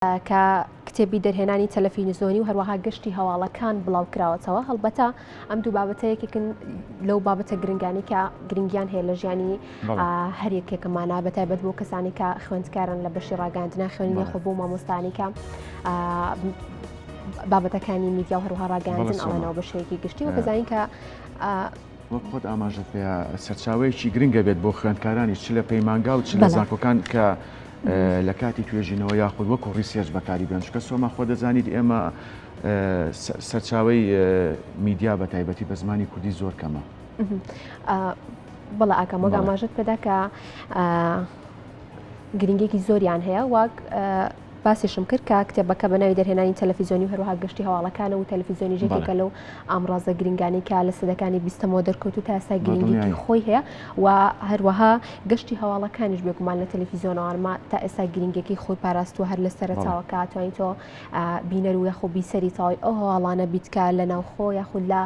کە کتێبی دەرهێنانی تەلەفینزۆنی و هەروەها گەشتی هەواڵەکان بڵاو کراوەتەوە هەڵبەتە ئەم دوو بابەتە یەکێکن لەو بابەتە گرنگانی کە گرنگیان هەیە لە ژیانی هەر یەکێکمانە بە تایبەت بۆ کەسانی کە خوێندکارن لە بەشی ڕاگەاندنا خوێنی خۆ بۆ مامۆستانی کە بابەتەکانی میدیا و هەروها ڕاگەاندن ئەڵێنەوە بە شێکی گشتی و بزانین کە وەک خۆت ئاماژت پێ سەرچاوەیەکی گرنگە بێت بۆ خوێندکارانی چ لە پەیمانگا و چ لە زانکۆکان کە لە کاتی توێژینەوە یاخود وەکو ڕیسێرچ بەکاری بێن چکە سۆما خۆ دەزانیت ئێمە سەرچاوی میدیا بە تایبەتی بە زمانی کوردی زۆر کەمە بەڵ ئاکەم وەگا ماژت پێدا کە گرنگێکی زۆریان هەیە واک باسیشم کرد کە کتێبەکە بە ناوی دەرهێنانی تەلەفیزیۆنی هەروها گشتی هەواڵەکانە و تەلەفیزیۆنی ژێکەکە لەو ئامڕازە گرنگانی کە لە سەدەکانی بیستەمەوە دەرکەوت و تاسا گرنگی خۆی هەیە و هەروەها گەشتی هەواڵەکانیش بێگومان لە تەلەفیزیۆنەوەمە تا ئێستا گرنگەکەی خۆی پاراستوە هەر لە سەرچاوەکە توانین تۆ بینەر و یاخۆ بیسەری تاوای ئەو هەواڵانە بیتکە لە ناوخۆ یاخود لە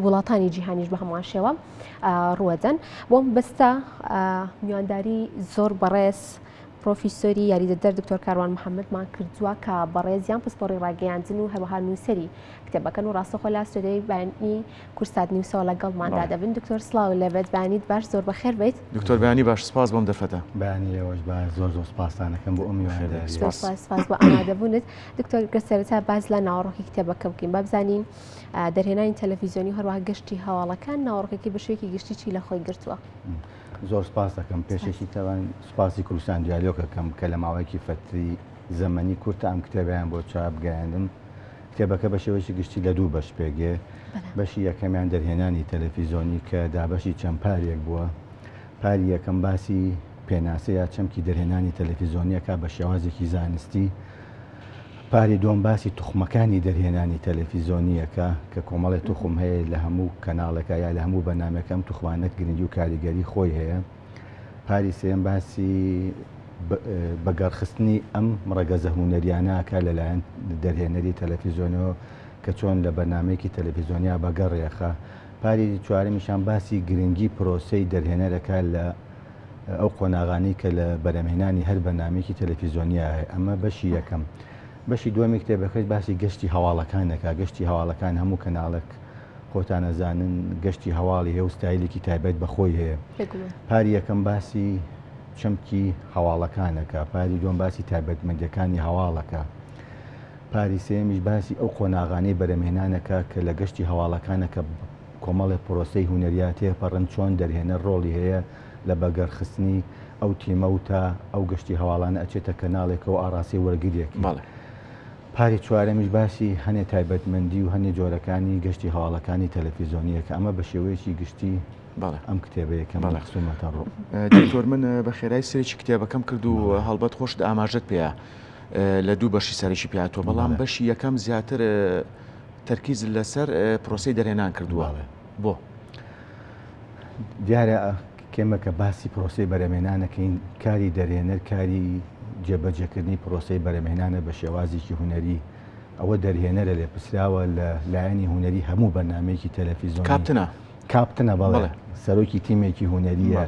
وڵاتانی جیهانیش بە هەمان شێوە ڕوەدەن بۆم بەستە میوانداری زۆر بەڕێز پرۆفیسۆری یاریدەدەر دکتۆر کاروان محەممەدمان کردووە کە بەڕێزیان پسپۆڕی ڕاگەیاندن و هەروەها نووسری کتێبەکەن و ڕاستەخۆ لا سودەی بانی کورسات نیوسەوە لەگەڵماندا دەبن دکتۆر سلااو لەبێت بانیت باش زۆر بەخێر بیت دکتۆر بانی باش سپاس بۆم دەرفەتە بانیەوەش با زۆر زۆر سپاسانەکەم بۆ ئەمی سپاس بۆ ئامادەبوونت دکتۆر گەسەرتا باز لە ناوەڕۆکی کتێبەکە بکەین بابزانین دەرهێنانی تەلەڤیزیۆنی هەروە گەشتی هەواڵەکان ناوەڕۆکەکەی بە شوێکی گشتی چی لە خۆی گرتووە. زۆر سپاس دەکەم پێشێکی تەوان سپاسی کوردستان دیالۆکەکەم کە لە ماوەیەکی فەتری زەمەنی کورتە ئەم کتێبیان بۆ چاپ گەیاندم کتێبەکە بە شێوەیەکی گشتی لە دوو بەش پێگێ بەشی یەکەمیان دەرهێنانی تەلەفیزۆنی کە دابەشی چەند پارێک بووە پاری یەکەم باسی پێناسەیە چەمکی دەرهێنانی تەلەفیزۆنیەکە بە شێوازێکی زانستی پاری دووەم باسی توخمەکانی دەرهێنانی تەلەفیزۆنییەکە کە کۆمەڵێ توخم هەیە لە هەموو کەناڵێکا یا لە هەموو بەرنامەکە ئەم توخمانە گرنگی و کاریگەری خۆی هەیە پاری سێیەم باسی بە گەڕخستنی ئەم ڕەگەزە هونەریانە ئەکا لەلایەن دەرهێنەری تەلەفیزۆنەوە کە چۆن لە بەرنمەیەکی تەلەفیزۆنیا بەگەڕێخە پاری چوارمیشان باسی گرنگی پرۆسەی دەرهێنەرەکە لە ئەو قۆناغانەی کە لە بەرەمهێنانی هەر بەرنامەیەکی تەلەفیزۆنیا هەیە ئەمە بەشی یەکەم بەشی دووەمی کتێبەکەش باسی گەشتی هەواڵەکان دەکا گەشتی هەواڵەکان هەموو کەناڵک خۆتان ئەزانن گەشتی هەواڵی هەیە و ستایلێکی تایبەت بەخۆی هەیە پاری یەکەم باسی چەمکی هەواڵەکانەکە پاری دوم باسی تایبەتمەندەکانی هەواڵەکە پاری سێمیش باسی ئەو قۆناغانەی بەرەمێنانەکە کە لە گەشتی هەواڵەکانەکە کۆمەڵێ پرۆسەی هونەرییە تێپەڕن، چۆن دەرهێنەر ڕۆڵی هەیە لە بەگەڕخستنی ئەو تیمە و تا ئەو گەشتی هەواڵانە ئەچێتە کەناڵێکەوە و ئاڕاستەی وەرگرییەکی. پاری چوارەمیش باسی هەنێ تایبەتمەندی و هەنێ جۆرەکانی گەشتی هەواڵەکانی تەلەفیزۆنییە کە ئەمە بە شێوەیەکی گشتی ئەم کتێبەیە کە من خستوومەتە ڕوو. دکتۆر من بە خێرایی سەیرێکی کتێبەکەم کرد و هەڵبەت خۆشت ئاماژەت پێیە لە دوو بەشی سەرەکی پێهاتووە، بەڵام بەشی یەکەم زیاتر تەرکیز لەسەر پرۆسەی دەرهێنان کردووە بۆ. دیارە کێمە کە باسی پرۆسی بەرەمێنانەکەین کاری دەرێنەر کاری جێبەجێکردنی پرۆسی بەرەمێنانە بە شێوازێکی هوەری ئەوە دەرهێنەرە لێ پرسراوە لە لایەنی هوەری هەموو بەنامەیەکی تەلەفیزۆن کاپتنە کاپتنە بەڵێ سەرۆکی تیمێکی هوەریە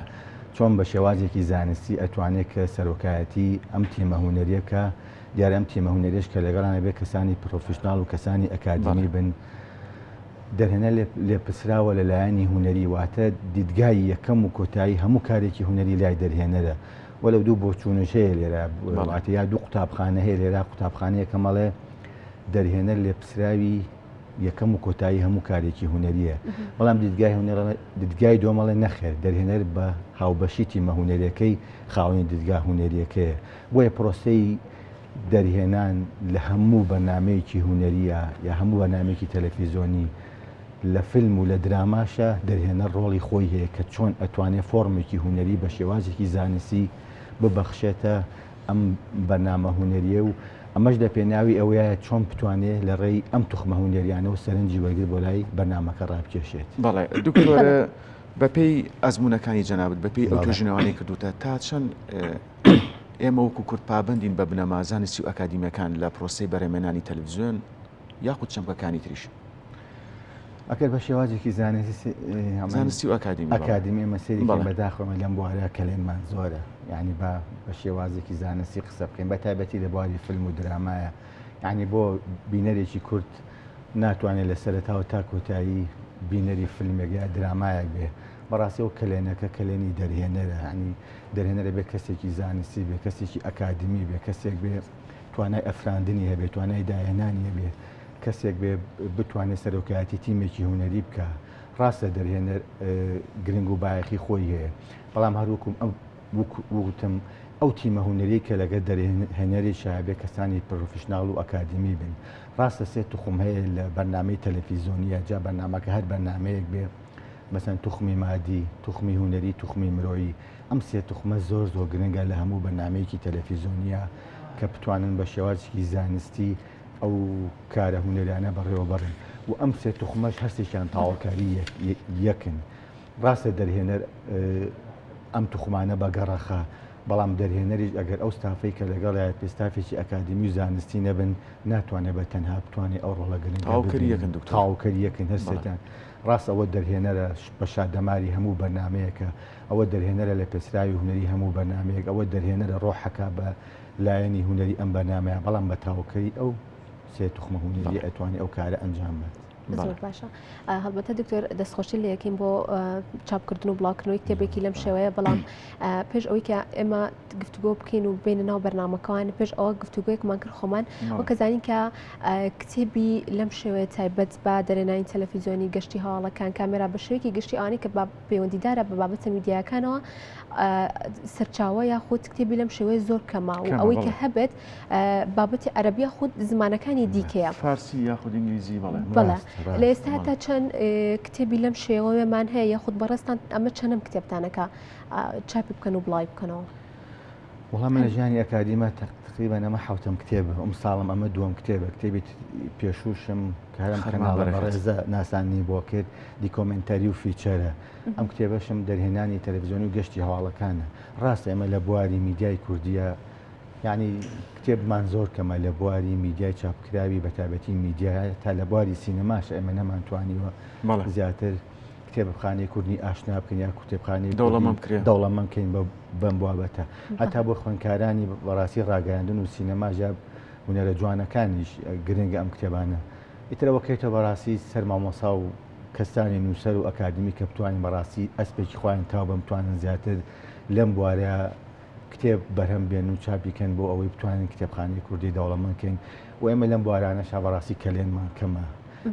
چۆن بە شێوازێکی زانستی ئەتوانێت کە سەرۆکایەتی ئەم تیمە هوەریەکە دیارە ئەم تیمە هونەریش کە لەگەڵانە بێ کەسانی پرۆفیشنناڵ و کەسانی ئەکادمی بن دەرهێنە لێپسراوە لە لایەنی هونەری واتە دیدگای یەکەم و کۆتایی هەموو کارێکی هونەری لای دەرهێنەرە وە لە دوو بۆچوونش هەیە لێرە وڵاتە یا دوو قوتابخانە هەیە لێرا قوتابخانەیە کە مەڵێ دەرهێنەر لێپسراوی یەکەم و کۆتایی هەموو کارێکی هونەریە بەڵام دیدگای هونەر دیدگای دۆمەڵێ نەخێر دەرهێنەر بە هاوبەشی تیمە هونەرەکەی خاوەنی دیدگا هونەریەکەیە بۆیە پرۆسەی دەرهێنان لە هەموو بەرنامەیەکی هونەرییە یا هەموو بەرنامەیەکی تەلەفیزۆنی لە فیلم و لە دراماشە دەرهێنەر ڕۆڵی خۆی هەیە کە چۆن ئەتوانێ فۆرمێکی هونەری بە شێوازێکی زانستی ببەخشێتە ئەم بەرنامە هونەریە و ئەمەش لە پێناوی ئەوەیە چۆن بتوانێ لە ڕێی ئەم توخمە هونەریانە و سەرنجی وەرگر بۆ لای بەرنمەکە ڕابکێشێت بەڵێ دکتۆرە بەپێی ئەزمونونەکانی جەنابەت بەپی ئەو توژنەوانی کردوتە تا چەند ئێمە وەکو کورد پابەندین بە بنەما زانستی و ئەکادیمیەکان لە پرۆسی بەرەمێنانی تەلویزیۆن یاخود چەمکەکانی تریش ئەکەر بە شێوازێکی زانستی زانستی و ئەکادیم ئەکادیمی مەسیری بەداخۆمە لەم بوارە کەلێنمان زۆرە یعنی بە بە شێوازێکی زانستی قسە بکەین بە تایبەتی لە بواری فیلم و درامایە یعنی بۆ بینەرێکی کورت ناتوانێت لە سەرتاوە تا کۆتایی بینەری فیلمێک یا درامایەک بێ بەڕاستی ئەو کەلێنەکە کەلێنی دەرهێنەرە ینی دەرهێنەرە بێ کەسێکی زانستی بێ کەسێکی ئەکادمی بێ کەسێک بێ توانای ئەفراندنی هەبێ توانای داهێنانی هەبێ کەسێک بێ بتوانێت سەرۆکایەتی تیمێکی هوەری بکە ڕاستە دەرهێنەر گرنگ و باەخی خۆی هەیە بەڵام هەروکم ئەم وتم ئەو تیمە هوەری کە لەگە دەرهێنەری شابێ کەسانی پرۆفشنناڵ و ئەکادمی بن ڕاستە سێت توخم هەیە لە بەرنمەی تەلەفیزۆنیە جا بەنامەکە هەر بەنامەیەک بێ مەسەن توخمی مادی، توخمی هونەری، توخمی مرۆیی، ئەم سێ توخمە زۆر زۆر گرنگە لە هەموو بەرنامەیەکی تەلەفیزۆنیا کە بتوانن بە شێوازێکی زانستی ئەو کارە هونەرانە بەڕێوە بەرن و ئەم سێ توخمەش هەر سێکیان تاوەکاری یەکن ڕاستە دەرهێنەر ئەم توخمانە بە گەڕەخە بەڵام دەرهێنەریش ئەگەر ئەو ستافەی کە لەگەڵایەت پێستافێکی ئەکادمی و زانستی نەبن ناتوانێت بە تەنها بتوانێت ئەو ڕۆڵە گرنگ تاوکەری یەکن هەر سێکیان ڕاست ئەوە دەرهێنەرە بە شادەماری هەموو بەرنامەیەکە، ئەوە دەرهێنەرە لە پێچراوی هونەری هەموو بەرنامەیەک، ئەوە دەرهێنەرە ڕۆحەکە بە لایەنی هونەری ئەم بەرنامەیە، بەڵام بە تاوکەری ئەو سێ توخمە هونەریە ئەتوانی ئەو کارە ئەنجام بات. زۆر باشە هەڵبەتە دکتۆر دەستخۆشی لە یەکەین بۆ چاپکردن و بڵاوکردنەوەی کتێبێکی لەم شێوەیە بەڵام پێش ئەوەی کە ئێمە گفتوگۆ بکەین و بینە ناو بەرنمەکەوان پێش ئەوە گفتوگوێکمان کرد خۆمان وەکەزانین کە کتێبی لەم شێوەیە تایبەت بە دەرێنانی تەلەفیزیۆنی گەشتی هەواڵەکان کامێرا بە شێوەیەکی گشتی ئەوانەی کە پەیوەندیدارە بە بابەتە میدیاکانەوە سەرچاوە یا خود کتێبی لەم شێوەیە زۆر کەما و ئەوەی کە هەبێت بابەتی عەربیە خود زمانەکانی دیکەیە فارسی یاخود ئینگلیزی بڵێ بڵێ لە ئێستا تا چەند کتێبی لەم شێوەیەمان هەیە یاخود بەڕێستان ئەمە چەندم کتێبتانەکە چاپی بکەن و بڵای بکەنەوە. وڵا من لە ژیانی ئەکادیمە تقریبا ئەمە حوتم کتێبە ئەم ساڵم ئەمە دووەم کتێبە کتێبی پێشوشم کارم خەرماڵەڕێزە ناسانی بۆ کرد دیکۆمنتاری و فیچەرە ئەم کتێبەشم دەرهێنانی تەلەڤزیۆنی و گەشتی هەواڵەکانە ڕاستە ئێمە لە بواری میدیای کوردیە یعنی کتێبمان زۆر کەمە لە بواری میدیای چاپکراوی بەتابەتی میدیای تا لە بواری سینەماش ئێمە نەمانتوانیوە زیاتر کتێبخانەی کوردی ئاشنا بکەین یا کتێبخانی دەوڵەمەند بکەین بەم بابەتە هەتا بۆ خوێنکارانی بەڕاستی ڕاگەاندن و سینەما ژاب هوەرە جوانەکانیش گرنگە ئەم کتێبانە ئیترەوە کەێتە بەڕاستی سەر مامۆسا و کەستانی نووسەر و ئەکادمی کە بتوانین بەڕاستی ئەسپێکی خۆیان تاو بە بتوانن زیاتر لەم بوارە کتێب بەرهەم بێن و چاپیکەن بۆ ئەوەی بتوانین کتێبخانی کوردی دەوڵەمەکەین و ئێمە لەم بوارانە شابڕاستی کەلێنمان کەمە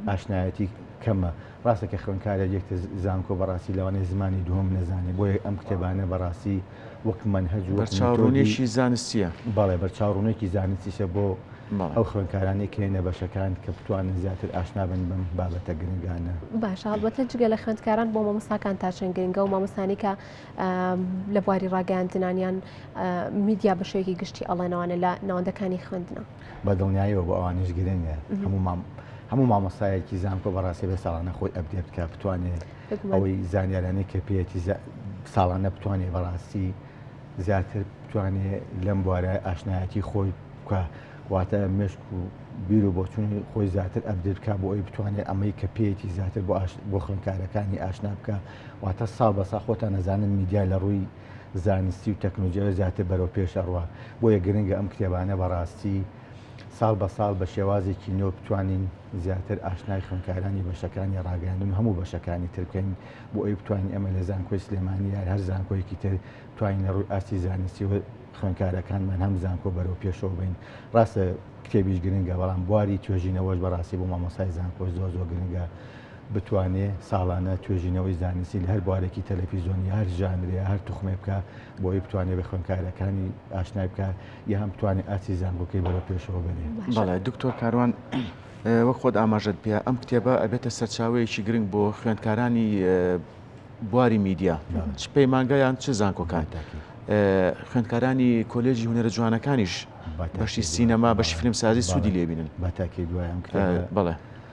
ئاشنایەتی کەمە ڕاستە کە خوێندکارێک یەکتە زانکۆ بەڕاستی لەوانەیە زمانی دووهەم نەزانێ بۆیە ئەم کتێبانە بەڕاستی وەک مەنهەج و بەرچاوڕوونێکی زانستیە بەڵێ بەرچاوڕوونێکی زانستیشە بۆ ئەو خوێندکارانی کە هێنە بەشەکان کە بتوانن زیاتر ئاشنابن بەم بابەتە گرنگانە باش هەڵبەتە جگە لە خوێندکاران بۆ مامۆساکان تا چەند گرنگە و مامۆسانی کە لە بواری ڕاگەاندنانیان میدیا بەشێکی گشتی ئەڵێنەوانە لە ناوەندەکانی خوێندنە بە دڵنیایەوە بۆ ئەوان هیچ گرنگ نیە هەموو مام هەموو مامۆستایەکی زانکۆ بەڕاستی بێ ساڵانە خۆی ئەبدێ بکە بتوانێت ئەوەی زانیارانی کە پێەتی ساڵانە بتوانێت بەڕاستی زیاتر بتوانێ لەم بوارە ئاشنایەتی خۆی بکە واتە مشک و بیر و بۆچوونی خۆی زیاتر ئەبدرکە بۆ ئەوی بتوانێت ئەمەی کە پێیەتی زیاتر بۆ بۆ خوێنکارەکانی ئاشنا بکە واتە ساڵ بەسا خۆتان نەزانن میدیا لە ڕووی زانستی و تەکنوجیا زیاتر بەرەو پێش ئەڕوا بۆیە گرنگە ئەم کتێبانە بەڕاستی ساڵ بە ساڵ بە شێوازێکی نۆ بتوانین زیاتر ئاشنای خوێنکارانی بەشەکانی ڕاگەیاندن هەموو بەشەکانی ترکەین بۆ ئەوی بتوانین ئەمە لە زانکۆی سلێمانی یار هەر زانکۆیەکی تر توانین لە ڕووی ئاستی زانستی و خوێنکارەکانمان هەم زانکۆ بەرەو پێشەوە بین ڕاستە کتێبیش گرنگە بەڵام بواری توێژینەوەش بەڕاستی بۆ مامۆسای زانکۆ زۆر زۆر گرنگە بتوانێ ساڵانە توێژینەوەی زانستی لە هەر بوارێکی تەلەفیزۆنی هەر ژانرێ هەر توخمێ بکە بۆی بتوانێت بە خوێنکارەکانی ئاشنای بکە یان بتوانێت ئاسی زانکۆکەی بەرە پێشەوە بێنێ بەڵێ دکتۆر کاروان وەک خۆت ئاماژەت پێ ئەم کتێبە ئەبێتە سەرچاوەیەکی گرنگ بۆ خوێندکارانی بواری میدیا چ پەیمانگایان چ زانکۆکان خوێندکارانی کۆلێژی هوەرە جوانەکانیش بەشی سینەما بەشی فیلمسازی سوودی لێبینن بەتاکی دوایان بڵێ.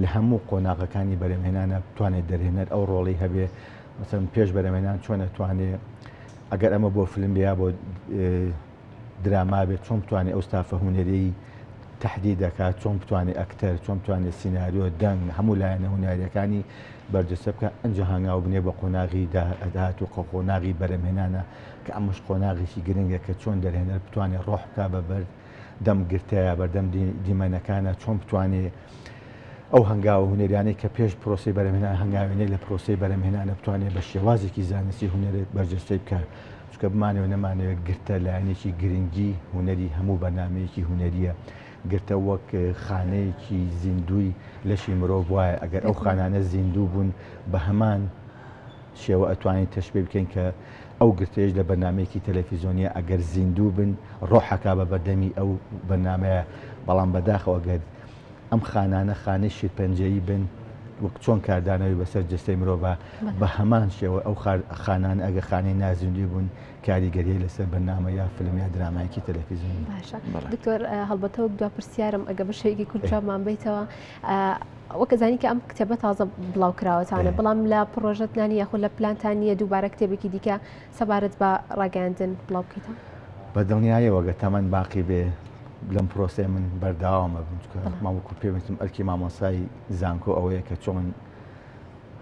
لە هەموو قۆناغەکانی بەرەمێنانە بتوانێت دەرهێنەر ئەو ڕۆڵی هەبێ مەسەن پێش بەرەمێنان چۆنە توانێ ئەگەر ئەمە بۆ فلم بیا بۆ دراما بێت چۆن بتوانێت ئەو ستافە هوەرەی تهدی دەکات چۆن بتوانێت ئەکتەر چۆن بتوانێت سینناریۆ دەنگ هەموو لایەنە هوەرەکانی بەرجەسە بکە ئەنج هەنگاو بنێ بە قۆناغی داهدات و قۆناغی بەرەمێنانە کە ئەمەش قۆناغێکی گرنگە کە چۆن دەرهێنەر بتوانێت ڕۆح بک بە بەرد دەم گرتەیە بەردەم دیمەنەکانە چۆن بتوانێت ئەو هەنگاوە هوەرانەی کە پێش پرۆسی بەرەمێنا هەنگاوێنەی لە پرۆسی بەرەمێنانە بتوانێت بە شێوازێکی زانستی هوەرێت بەرجەستەی بکات چکە بمانەوە نەمانەوێت گرتە لایەنێکی گرنگی هوەری هەموو بەنامەیەکی هوەریە گرتە وەک خانەیەکی زیندوی لەشی مرۆڤ وایە ئەگەر ئەو خانانە زیندوو بوون بە هەمان شێوە ئەتوانین تەشبیه بکەین کە ئەو گرتەیەش لە بەرنامەیەکی تەلەفیزۆنیە ئەگەر زیندوو بن ڕۆحەکا بە بەردەمی ئەو بەرنامەیە بەڵام بەداخەوە گەر ئەم خانانە خانەی شیرپەنجەیی بن وەک چۆن کاردانەوەی بەسەر جستەی مرۆڤە بە هەمان شێوە ئەو خانان ئەگە خانەی نازیندوی بوون کاریگەریە لەسەر بەنامە یا فلم یا درامایکی تەلەفیزیۆن باشە دکتۆر هەڵبەتەوە دو پرسیارم ئەگە بە شێوەیەکی کوردمان بیتەوە وەک ئەزانی کە ئەم کتێبە تازە بڵاو کراوەتانە بەڵام لە پرۆژەت نانی یاخۆ لە پلانتان نییە دووبارە کتێبێکی دیکە سەبارەت بە ڕاگەاندن بڵاو بکەیتەوە بە دڵنیایەوەگە تەمەەن باقی بێ لەم پرۆسەیە من بەرداوامە ماوەکو پێویستم ئەرکی مامۆسای زانکۆ ئەوەیە کە چۆن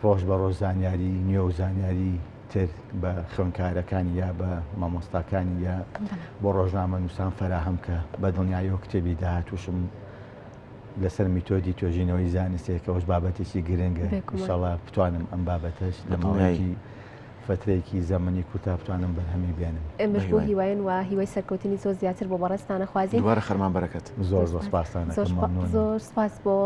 ڕۆژ بە ڕۆژ زانیاری نوێ و زانیاری تر بە خوێنکارەکانی یا بە مامۆستاکانی یا بۆ ڕۆژنامە نووسان فەراهەم کە بە دڵنیایەوە کتێبی داهاتوشم لەسەر میتۆدی توێژینەوەی زانستێک کەەوەش بابەتێکی گرنگە ئیشەڵا بتوانم ئەم بابەتەش لە ماوەیەکی فترێکی زەمەنی کوتا بتوانم بەرهەمی بێنم ئێمەش بۆ هیواین و هیوای سەرکەوتنی زۆر زیاتر بۆ بەڕێستانە خوازی دوارە خەرمان بەرەکەت زۆر زۆر سپاسان زۆر سپاس بۆ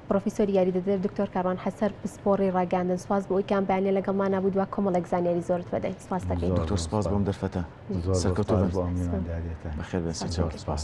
پرۆفیسۆری یاری دەدر دکتۆر کاروان حەسەر پسپۆڕی ڕاگەاندن سپاس بۆ ئەوی کام بەیانە لەگەڵمان نبوو دو کۆمەڵێک زانیاری زۆر بەدەین سپاس دەکەین دکتۆر سپاس بۆم دەرفەتە سەرکەوتو بەخێر بێت سپاس